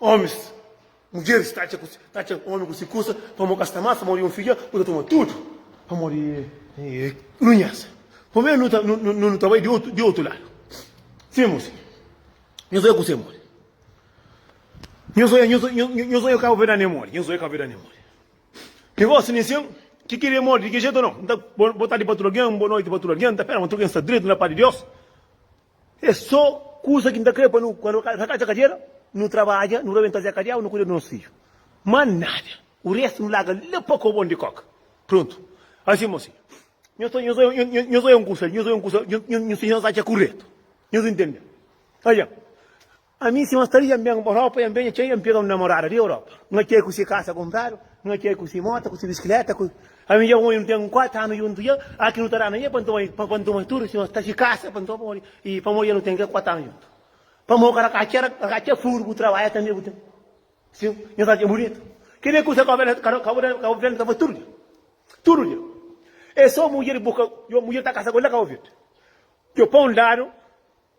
Omis, mudjeris ta atxa ta atxa omi ku si kusa, pamodi ka sta más pamodi un fidja bu ta toma tudu pamodi runhesa. Pamodi nu ta nu ta bai di otu di otu ladu. Sim, mu sinha. Nhos oja kusa é modi. Nhos oja nhos nhos oja Kabuverdianu é modi. Nhos oja Kabuverdianu é modi. Negosi nin sin ki kiri é modi di ki jetu no? N ta bo bo tardi pa tudu algen, bo noti pa tudu algen, N ta pera ma tudu algen sta dretu na pa di Deus. É sô kuza ki N ta krê pa nu, kandu N atxa kadiera, nu trabadja, nu rabenta Zé Kadiau, nu kuida di nos fidju. Má nada, u restu nu larga la pa kobon di kóka. Prontu. Ansin, mosinhu, nhos ta, nhos, nhos, nhos oi un kusa li, nhos oi un kusa, nhos, nhos, nhos atxa kuretu. Nhos intende? Atxa. Ami si mas ta ri, N ben pa Europa, N ben nha txei, N pega un namorada di Europa. Nha txei ku si kasa kunpradu, nha txei ku si mota, ku si biskileta, ku. Ami dja ku N ten un kuatu anu djuntu dja, a ki nu ta da na dja pa N toma, pa N toma tudu si mas ta si kasa pa N toma pamodi, i pamodi dja nu ten ke kuatu anu djuntu. Pamodi ka ka txera, ka ka txera furu bu trabadja tanbe bu ten. Si nha ta dja bunitu. Ke de kusa ka bu ben, ka bu ben, ka bu ben ta fasi tudu dja. Tudu dja. E so mudjer bu ka, djo mudjer ta kasa ku el la ka bu vid. Djo pa un ladu,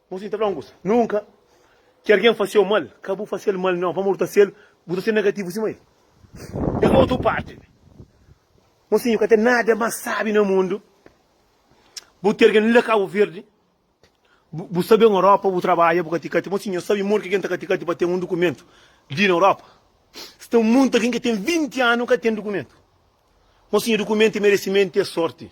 Bo sin ta fla un kusa, Nunka ki algen fase-u mal, ka bu fase-l mal nau, pamodi bu ta sel, bu ta ser negativu sima el. Den otu parti li, bo sin ka ten nada mas sabi na mundu. Bu ten algen li na Kabu Verdi, bu sta ben Europa, bu trabadja, bu kati-kati. Bo sin nhos sabi modi ki algen ta kati-kati pa ten un dukumentu li na Europa? Sta monti algen ki ten vinti anu ka ten dukumentu. Bo sin dukumentu é meresimentu, é sorti.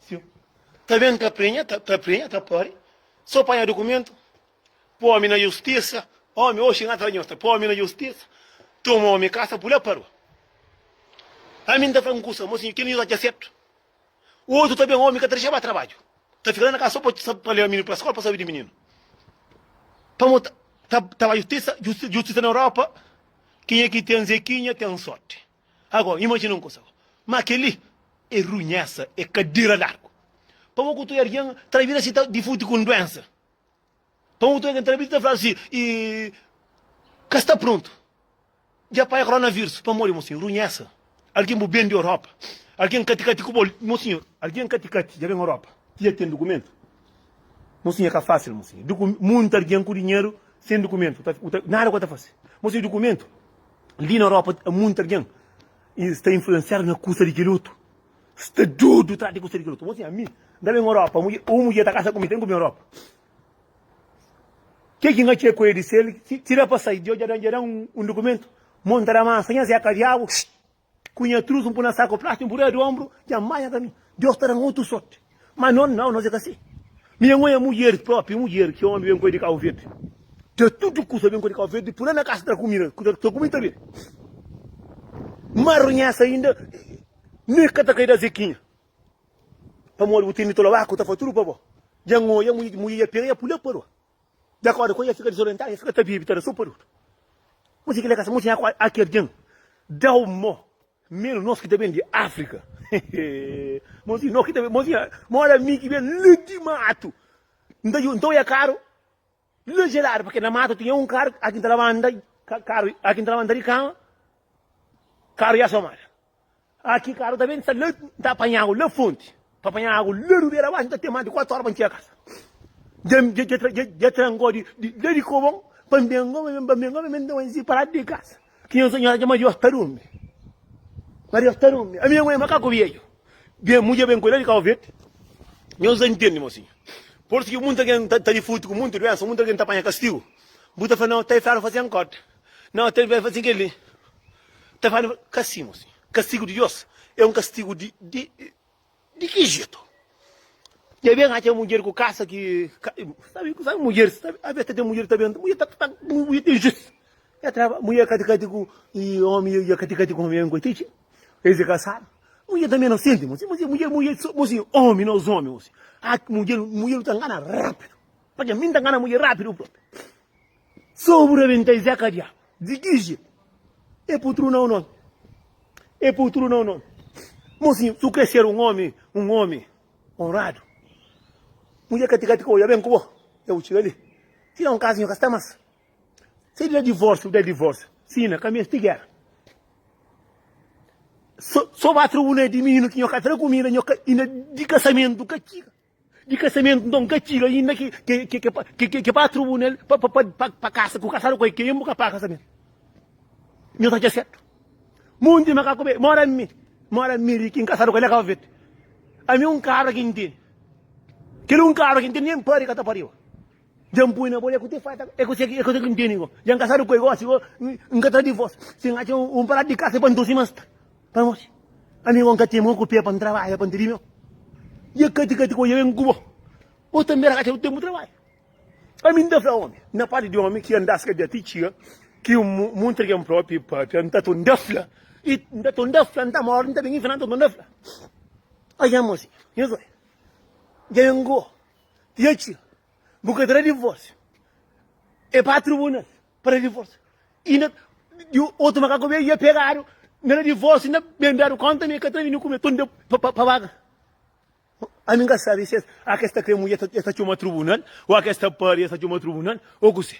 Siu. Ta ben ta prenha, ta, ta prenha, ta pori. Só panha dokumento. Pô-me na justiça. Ome, oxi na tranhosta. Pô-me na justiça. Tomou-me caça, pulá pa rua. A mim ta fala um cusa, mocinho, que não já certo. O outro também, homem, que te deixava trabalho. Tá ficando na casa só para levar menino para a escola, para saber de menino. Para montar, tá, tá lá justiça, justiça na Europa, quem é que tem Zequinha tem sorte. Agó, imajina un kusa. Má kel-li é runhésa, é kadera largu. Pamodi ku tudu algen ta bira si ta difuti ku un duénsa? Pamodi ku tudu algen ta bira si ta fladu si i ka sta prontu di apanha koronavírus? Pamodi, mon sinhor, runhésa. Algen bu ben di Europa, algen kati-kati ku bo. Mon sinhor, algen kati-kati dja ben Europa, ki dja ten dukumentu. Mon sinhor, é ka fásil, mon sinhor. Munti algen ku dinheru sen dukumentu, nada ku el ta fase. Mon sinhor, dukumentu. Li na Europa a munti argen sta influensiadu na kusa di kel otu. Sta dudu tras di kusa di kel otu. Bo sin, ami nta ben Europa, un mudjer ta kasa ku mi, ten ku bin Europa. Ke ki n'ka txer ku el di sel, tira pa sai, djo dja dan un dukumentu, mon ta da mansa, nha zeka diabu, xxxx. Ku nha trus, N pui na saku plástik, N buria di onbru, dja N manha kaminhu, Deus ta da-m otu sorti. Má non, nau, nos é ka si. Mi N oi mudjeris, própi mudjer ki ómi ben ku el di Kabu Verdi. Tra tudu kusa ben ku el di Kabu Verdi, pui la na kasa tra ku mi, ku ta ku mi ta bebe. N má runhesa ainda, mi ka ta kai da Zekinha, pamodi bu tene toloba ku ta fla tudu pa bo. Dja N oi mudjer dja pega i dja pui la pa rua. Dja akorda ku el, el fika dizorientadu, el fika ta bibi, ta da supadutu. Kuzê ki el ta kasa? Mô, dja haki algen da-u mô, menu nos ki ta ben di Áfrika. Môzinha, no ki ta ben, môzinha, mô éra mi ki ben la di matu. N ta djuda, N ta oja karu la jeladu, purkê na matu tinha un karu, aki N ta labanta, karu, aki N ta labanta di kama, karu dja somadu. Ah, ki karu ta ben sta la, N ta panha agu la fonti Pa panha agu la du bera baxi N ta ten más di kuatu ora pa N txega kasa Dja N dja tra dja tra ngó di la di kobon Pa N ben ngó pa N ben ngó pa N ben ta manzi pa ladu di kasa Ki nhos nhos atxa ma Diós ta durmi Ma Diós ta durmi ami agu é makaku bieju Bem mu dja ben kuda di Kau Verdi Nhos ta ntende mosinhu Por su ki muntu algen ta ta difutu ku muntu duensa Muntu algen ta panha kastigu Bu ta fla na otei feru fasen kód Na otei feru fasen kel-li. Ta fala ma ka sin mosi. Kastigu di Deus é un kastigu di di di ki jetu? Dja ben atxa mudjer ku kasa ki ka sabi sabi mudjeris sabi avês ta ten mudjer ki ta ben mudjer ta ta mudjer ta injus ya ta traba mudjer kati kati ku i omi ya kati kati ku omi koti txi es e kasadu mudjer ta meno senti mosi mosi mudjer mudjer so mosi omi nos omi mosi ak mudjer mudjer ta ngana rapidu patxi mi ta ngana mudjer rapidu propi. Sô bu rabenta i zé kadiâ. Di kije e putru na un nomi. E putru na un nomi. Mosinhu, si bu kre ser un omi, un omi onradu, mudjer ka tika-tika odja ben ku bo, dja bu txiga li. Si da un kaza, nho ka sta más. Si é di da divórsiu, da divórsiu. Sina, ka meste géra. Sô ba tribunal di mininu ki nho ka tra kumida, nho ka inda di kasamentu ka txiga. di kasamentu nton ka txiga inda ki ke pa trubunal pa kasa ku kasadu ku el ke bu ka paga kasamentu nho ta atxa sertu monti makaku be mora mi mora mi ri kin kasadu ku el na kaba verdi ami un kabra ki nteni kel un kabra ki nteni nen pari ka ta pariba Dja-m poi na bo, é ku tê fata, é ku tê ki N tene go. Dja N kasadu ku el gósi, go N ka ta da divós. Si N atxa un paladu di kasa pa N tosi, ma N sta pa N morsi. Ami go N ka ten mô ku pé pa N trabadja, pa N tene mel. Dja kati kati go dja ben ku bo, bo tanbe na ka atxa bu tenpu trabadja. Ami N ta fla ómi, na pati di ómi, ki N ta skabia ti txiga ki N muntra kel-m própi pâpia. N ta ton da fla, i N ta ton da fla, N ta mórdi, N ta ben infina, N ta ton da fla. Atxa N morsi, nhos oi, dja ben ku bo. E atxi, bu ka ta da divórsiu. E bai tribunal pa da divórsiu. I na di otu makaku be ia pegadu na da divórsiu, na ben dadu kónta ma e ka ta bini ku be tunda pa paga. Ami N ka sabe si a kes ta kre mudja e ta txoma tribunal o a kes ta pâria e ta txoma tribunal o kuse.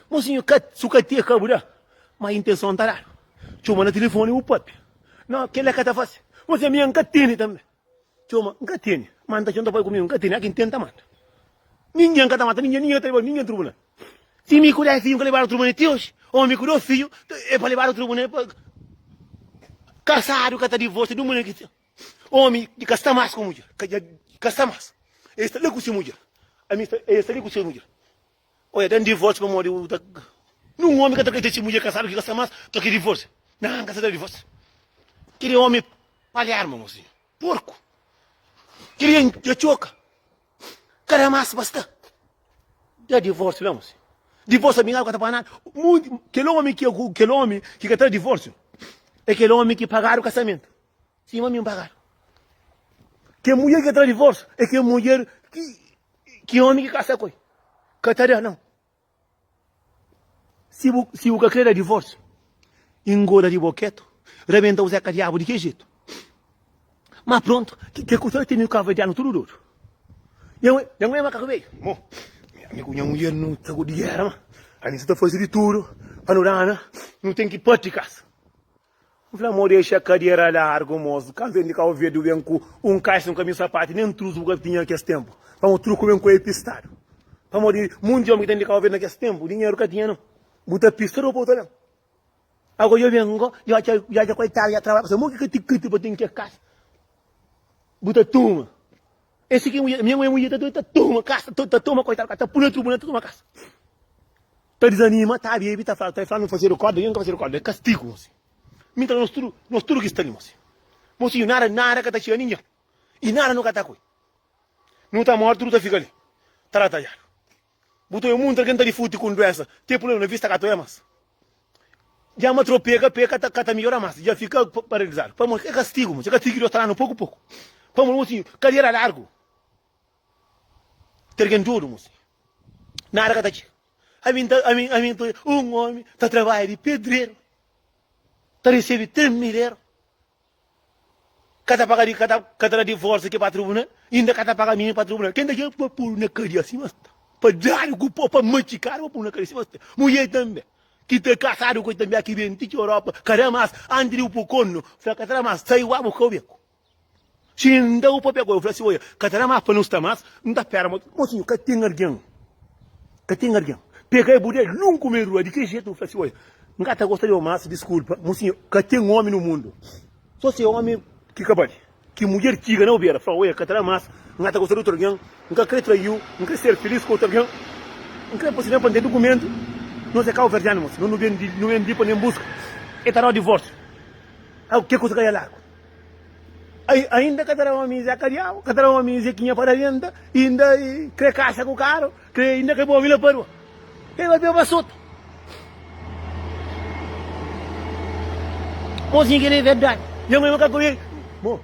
Bo sinhor, ka su ka tia ka bu da, ma intenson ta dadu. Txoma na tilifoni bu pape. No, kel-la ka ta fase. Bo sinhor, ami N ka tene tanbe. Txoma, N ka tene. Manda txeu, N ta bai ku mi. N ka tene. Aki N tene, N ta manda. Ningin N ka ta manda ningin, ningin N ka ta leba ningin tribunal. Si mi ku des fidju N ka lebadu tribunal ti oji, o mi ku dos fidju e pa lebadu tribunal pa kasadu ka ta divorsia di un mudjer ki ten omi ki ka sta mas ku mudjer, ka dja ka sta mas. E sta la ku se mudjer, ami sta, e sta li ku se mudjer. Oja dan divórsiu pamodi bu ta Nun ómi ka ta kaita si mudjer ka sabe ki ka sta mas pa ki divórsiu. Nan, ka ta da divórsiu. Kel é ómi palhar, mon mosinhu. Porku. Kel é dja txoka. Ka da mas pa sta. Da divórsiu la, mosinhu. Divórsiu abinhadu ka ta paga nada. Kel ómi ki ka ta da divórsiu é kel ómi ki pagadu kasamentu. Sima mi N pagadu. Kel mudjer ki ka ta da divórsiu é kel mudjer ki ómi ki kasa ku el ka ta da. Nau! Si bu ka krê da divórsiu, ingoda di boketu, rabenta bu zeka diabu di ki jetu. Má prontu, kel ku ta teme kabuverdianu tudu dodu. Nha mudjer é makaku bedju. Mo, ami ku nha mudjer nu ta gua di géra, má ami sa ta faze di tudu pa nu dana, nu ten ki pâpia di kasa. N fla, Mo dexa kadera largu, mozu. Kantu N di Kau Verdi, bu ben ku un kaxa, un kaminhu sapati, nen truzu bu ka tinha kes tenpu. Pamó truku ben ku epistadu. Pamó di munti omi ki ta ben di Kau Verdi na kes tenpu, dinheru ka tinha nan. Bu ta pista ropa, bu ta ben. Ago dja ben go, dja atxa, dja atxa koitadu dja trabadja pa se. Mo ki katikati pa ten ke kaxa bu ta tuma. Esse aqui é mulher, minha mãe é mulher, tá doida, tá toma caça, tá, tá toma coitado, tá pula no tribunal, tá toma caça. Tá desanima, tá bebe, tá falando, tá falando fazer recorda, eu nunca fazer recorda, é castigo, moço. Mim tá nós tudo, nós tudo que está ali, moço. Moço, nada, nada que tá chegando ninguém. E nada nunca tá coi. Não tá morto, tudo tá fica ali. Tá lá, tá já. Bu ta oe munt algen ta difuti ku un duensa te puleba na vista ka ta oe mas. Dja ma tro peka, peka ta ka ta miora mas, dja fika pa paralizadu. Pamo ke kastigu, mo se kastigu ki Deus ta danu poku poku. Pamo mo si kadiera largu te algen dudu mo si nada ka ta txega. Ami ta ami ami ta un omi ta trabalha di pedreru ta risibi 3 mil euro. Ka ta paga di ka ta ka ta da divórsiu ki pa tribunal, inda ka ta paga mini pa tribunal. Ken ta kre pa pô-l na kadia si mas ta, pa da-l ku pau, pa matxika-l, pa pô-l na kadia si mas ta. Mudjer tanbe ki ta kasadu ku el tanbe aki ben ti ki Europa ka da mas antis di bu pô konu, fla ka ta da mas, sai ua bu ka obeku. Si el nda bu pa pegá-l, bu fla si, oia, ka ta da mas pa nu sta mas, nu ta pera mô. Mô sinhor, ka ten algen, ka ten algen pegá-l, bu da-l un kumedu la di ki jetu? Bu fla si, oia, N ka ta gosta di-u más, diskulpa. Musinha, ka ten ómi nu mundu. Sô se ómi ki ka bali. Ki mudjer txiga na-u bera, fla-u, Ê, ka ta da más, N ka ta gosta di otu algen, N ka krê trai-u, N krê ser filís ku otu algen. N krê pa si ben pa N ten dukumentu. Nos é káuverdiánus, nos nu ben di, nu ben di pa N ben buska. Ê ta da-u divórsiu. Au, ke kusa ka da lagu. Ai, ainda ka ta da ómi Zé Kadiau, ka ta da ómi Zekinha Paraventa, i inda krê kasa ku karu. Krê inda ke bo mi na padua K'é ba beba sota Mozinha kel-li é verdadi Nha mãe maka kome-l Mo,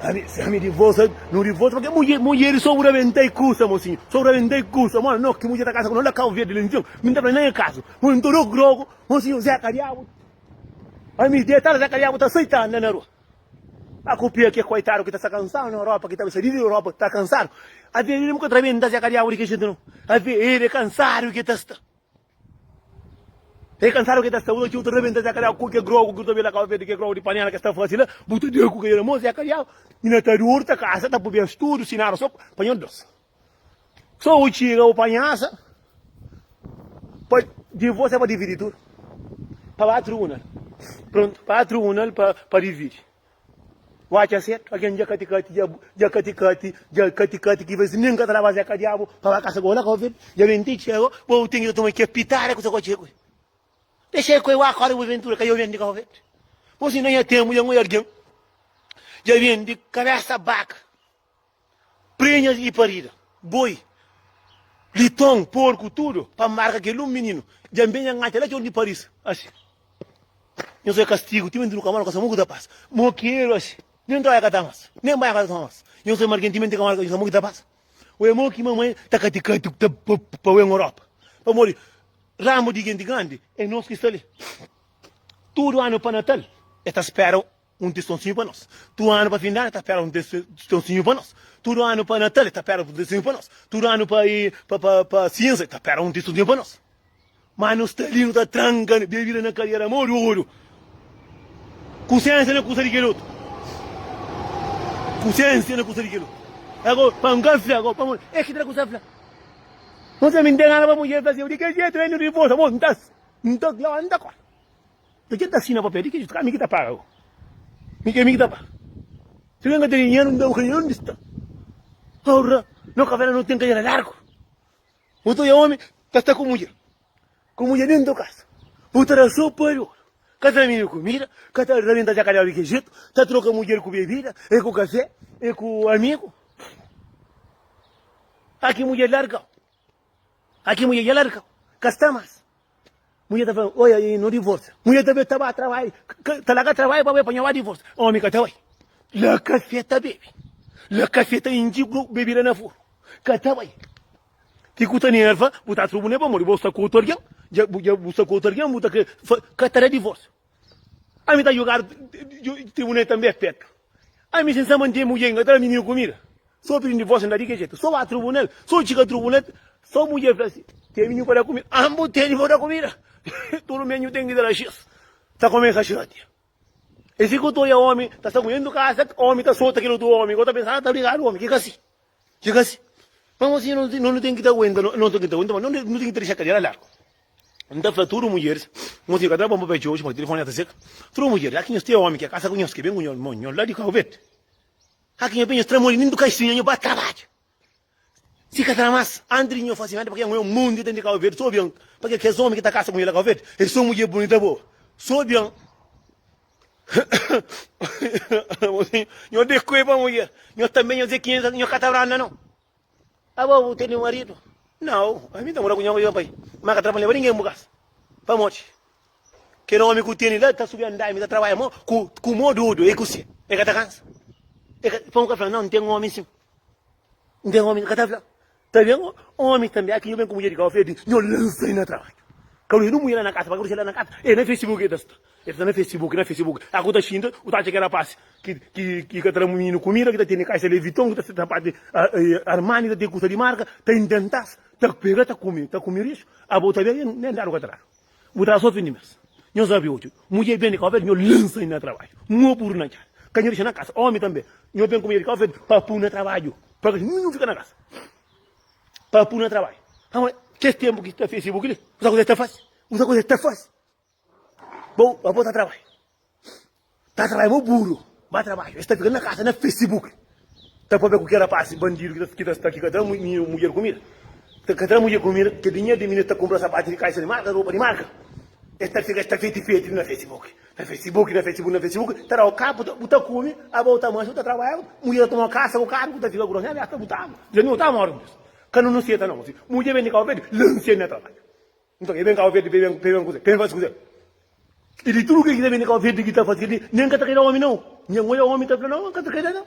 ami, si ami divorsa Nu divorsa pake mudje, mudjeri so bu ta ben ta-i kusa mosinha So bu ta ben ta-i kusa Mo, no, ki mudje ta kasa ku no la Kau Verdi la Nton mi N ta fla-l na nha kazu Mo, N ta dô ku drogu Mosinha, Zeka Diabu ami detal Zeka Diabu ta sai ta anda na rua. A kupia ke koitadu ki ta sta kansadu na Europa, ki ta bai saidu di Europa, ta kansadu. Avia el mesmu ka ta rabenta si e ka diabu di kel jinti no. Avia el e kansadu ke ta sta. E kansadu ke ta sta. Bu ta txeu ta rabenta si e ka diabu ku ke grogu ki bu ta bai la Kabo Verdi, ke grogu di panela ke sta fasi la, bu ta diabu ku ke na mo si e ka diabu. Nina ta durta kasa, ta pui bens tudu, si nada so pa nho dosi. Sô u txiga u panhasa pa divos é pa dividi tudu pa batru unal prontu pa batru unal pa pa dividi u atxa setu algen dja kati kati dja dja kati kati dja kati kati ki vezi nen ka ta laba zeka diabu pa ba kasa gola covid dja ben ti txi ago bo u ten ki ta toma ke pitada ku ta kotxe ku dexe ku wa akorda bu ventura ka dja u ben di covid bo si na nha tenbu dja ngoi algen dja ben di kabesa baka Prenhas y parida, boi, liton, porku, tudu pa marka kel un mininu dja ben nha ngata la txor di Paris asi nha só é kastigu timenti nu ka mora kasa mo ku ta pasa mo keru asi nen trabalha ka ta mas nen banha ka ta toma mas nha só é marken timenti ka mora kasa mo ki ta pasa ue mo ki mamãe ta kati kati ku ta pa ue ngoropa pamodi ramu di genti grandi é nos ki sta li tudu anu pa natal é ta spera. un testonsinhu pa nos tudu anu pa findanu ta pera un testonsinhu pa nos tudu anu pa natal e ta pera un testonsinhu pa nos tudu anu pa pa sinza e ta pera un testonsinhu pa nos ma nu sta li nu ta tranka bebida na kadera mo di oru kusensia na kusa di kel otu kusensia na kusa di kel otu Agora, vamos ganfla, agora, vamos. É que trago safla. Você me entende, ela vai mulher, Brasil, de que jeito, ele não revolta, vou, não tá, não tá, não tá, Di ki el ta asina papel? Di ki jetu? Ka mi ki ta paga ku? Mi ki é mi ki ta paga? Si algen ka tene dinheru, N da-u ka dinheru. Undi sta? Aurra, no kavela no ten kadera largu. Bu ta oja omi ta sta ku mudjer, ku mudjer dentu kasa. Bu ta da sopa di oru, ka ta mini kumida, ka ta rabenta jakadela di ki jetu, ta troka mudjer ku bebida i ku kafé i ku amigu. Aki mudjer larga-u. Ai ki mudjer dja la di kau, ka sta mas. Mudjer ta fla-l, Oi, ai, no divorsia. Mudjer ta be ta ba trabadja, ta laga trabadja pa be panha ba divorsia. Omi ka ta bai. La kafé ta bebe, la kafé ta intxi bebida na furu. Ka ta bai. Ki ku ta nerva, bu ta atxu bu ne pa modi, bo sta ku otu algen, dja bu sta ku otu algen, bu ta kre. Ka ta da divorsiu. Ami ta jogadu tribunei tanbe é petu Ami sin sama n'tei mudjer n'ka tra mininu kumida So pidi n'divosio n'da di ke jetu So ba trubunal so txiga trubunal So mudjer fla si ten mininu pa da kumida Ami bu teni pa da kumida Tudu mininu ten di dela xis Ta kumesa xiroti Esi kutoria omi ta sta ku nhendu kasa Omi ta sota kel otu omi Ko ta pensa a ta brigadu omi ki ka si. Txeka asi. Ma mô sinhor, no no ten ki ta aguenta, no ten ki ta aguenta, ma no no ten ki ta dexa kadeira largu. N ta fla tudu mudjeris, mô sinhor ka ta bon pa Betxi oji, paske tilifoni la ta seka. Tudu mudjeris, aki nhos ten omi ki a kasa ku nhos, ki ben ku nhos, ma nhos la di Kaubet. Aki nhos ben, nhos tra modi nen di kaxinha, nhos ba trabadja. Si ka tra mas, antis di nhos fasi nada, pake nha mô mô ndi ta ndi Kaubet, so bian, pake kes omi ki ta kasa ku nha la Kaubet, e son mudjer bunita bo, so bian. Nho dekue pa mulher. Nho também nho dizer que nho ka ta branda não. Abo bu tene marido? Não, a mim tá morando com nho marido pai. Mas ka trabalha para ninguém bu casa. Pa moti. Que não homem que tene lá tá subindo andaime, tá trabalha mó com com mó dodo, é cozinha. É que tá cansa. É que pão ka fala, não, não tem homem sim. Não tem homem, ka tá fala. Ta ben omi tanbe aki nho ben ku mudjer di kau fedi nho lansa i na trabadju ka lu e nu mui la na kasa pa ka kursela na kasa e na fesibuki e ta sta e ta sta na fesibuki na fesibuki aku ta xinta u ta atxa ki rapasi ki ki ki ka ta da mininu kumida ki ta tene kaisa leviton ki ta sta sapati armani ta tene kusa di marka ta inventas ta pega ta kumi ta kumi rixu abo ta ben e nu nen dadu ka ta dadu. Bu ta sofri dimes. Nho sabe otu mudjer ben di Cabo Verde, nho lansa i na trabadju. Nho puru na casa, ka nho dexa na casa. Omi tanbe, nho ben ku mudjer di Cabo Verde pa pu na trabadju. Pa ke nhu fika na casa pa pu na trabadju? Aba, kes tempu ki ta fese bu kile, kusa kusa e ta fase? Kusa kusa e ta fase? Bo, abo ta trabadju. Tá trabalha mo buru. Má trabalha. Es tá fika na kasa na Facebook ta pâpia ku ki rapasi bandidu ki ta sta ki ka tra mudjer kumida. Ta ka tra mudjer kumida ta dinheru di minês ta kunpra sapatu di kaixa di marka, ropa di marka. Es ta fika es ta feti feti na Facebook. Na Facebook, na Facebook, na Facebook ta dau kapu ta bu ta kume aba u ta manxa u ta trabalha. Mudjer ta toma kasa ku karu ku ta fika grosi. Abias ta butaba. Dja mi u ta mori. Ka nu nu seta no. Mudjer bende kau pedi lansia na trabalha. Nton, e ben Kau Verdi pa e ben, pa e ben kuza, pa e ben fasi kuza. I di tudu kil ki ta ben di Kau Verdi ki ta fasi kel li, nen ka ta kai da omi nau. Nha N oja omi ta fla, Nau, ka ta kai da nau.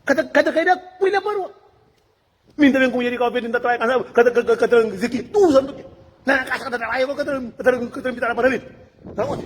Ka ta, ka ta kai da ku el la pa rua. Mi N ta ben ku mudjer di Kau Verdi, N ta trabadja kasal, ka ta, ka ta izisti ki tudu santu dia. Na nha kasa ka ta trabadja, bo ka ta, ka ta, ka ta nbitada pa na mesa. Na onde?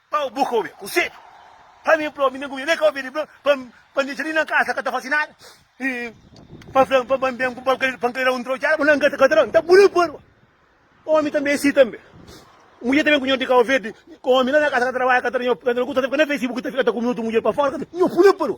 Pau bu ka obi konsedju pa mi plomi nen ku mi nen ka obi ribla pa pa nditxa li na kasa ka ta fasi nada i pa flan pa ban ben ku balkari pa nklera un trochada bu na ngata ka ta la nta bu na parba omi tanbe si tanbe mudjer ta ben ku nho di kau verdi omi la na kasa ka ta trabadja ka ta da nho ka ta da nho kusa ka ta fika na fesi bu ka ta fika ta kumi otu mudjer pa fora ka ta nho bu na parba.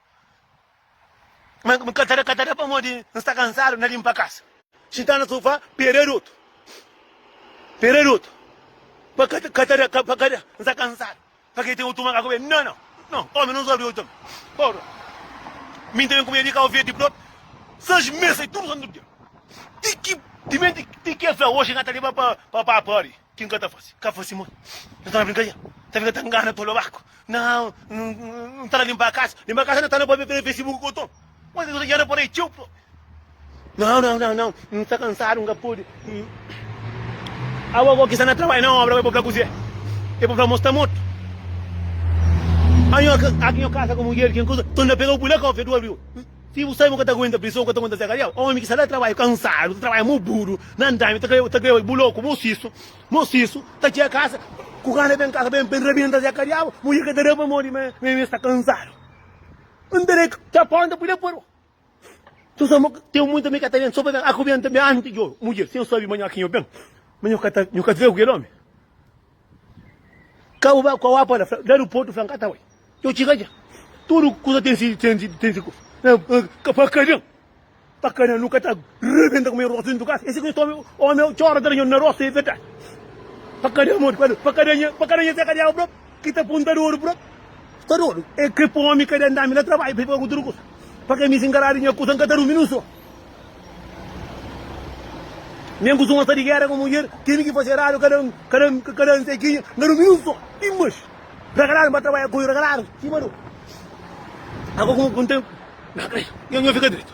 Ma N ka ta da, ka ta da pamodi N sta kansadu na linpa kasa. Xinta na sofá, pera di otu, pera di otu, pa ka ta, ka ta da, pa ka da, N sta kansadu. Pa ke ten otu makaku be? Nau, nau, nau, omi no sóbri otu tanbe. Ora, mi N ta ben kumida di kau verdi propi sais mes, sai tudu santu dia. Ti ki, timenti ti ki el fla, oxi N ka ta leba pa, pa pâpâ li. Ki n ka ta fase? Ka fase mon. N ta na brinka dja. Ta fika ta ngana tolo baku. Nau, N ta na linpa kasa. Linpa kasa na ta na poi bebê fese buku ku oton. Mô ki bu ta dja na poi rei txeu propi. Nau, nau, nau, nau. N sta kansadu, n ka pode. Awa bo ki sta na trabadja na obra, bo e bo fla kuzê? E bo fla, Mô sta mortu. Ami oki nha kasa ku mudjer ki N kuza, ton ta pega-u pui la ka ofia du abriu. Si bu sabe bu ka ta aguenta prison, bu ka ta aguenta Zekariel, omi ki sta la trabadja kansadu, ta trabadja mu buru na andami, ta kre, ta kre oi bu loku, bu sisu, bu sisu, ta txia kasa, ku gana ben kasa ben ben rabenta Zekariel, mudjer ka ta da pamodi ma ma e sta kansadu. N ta da txapon, n ta pui la paro. Tu sa mo, ten muita mi ka ta ben so pa ben akubienta mi anti djo, mudjer, si N sabe ma nho aki nho ben, ma nho ka ta, nho ka ta zega ku kel omi. Ka bu bai ku awá pa la, fla, dadu portu, fla, N ka ta bai. Djo txiga dja. Tudu kusa ten si, ten si, ten si kusa. Ka pa kaden, pa kaden nu ka ta rebenta ku mi rostu dentu kasa. E si ki txoma omi eu txora dra nho na rostu, e verdadi. Pa kaden modi, pa kaden, pa kaden nha, pa kaden nha seka di agu brok, ki ta punta dodu brok. Sta dodu? E ke pa omi kaden dami la trabadju, pa i faze utru kusa. Pa ke mi si ngaradu nha kusa, N ka ta durmi ni un son. Nen ku zunha sta di gera ku mudjer, tene ki fase radu kada un, kada un ka kada un sekinha na dumingu so, i mas ragaladu ba trabadja ku i ragaladu sima no. Ago ku un tempu, nha fika dretu.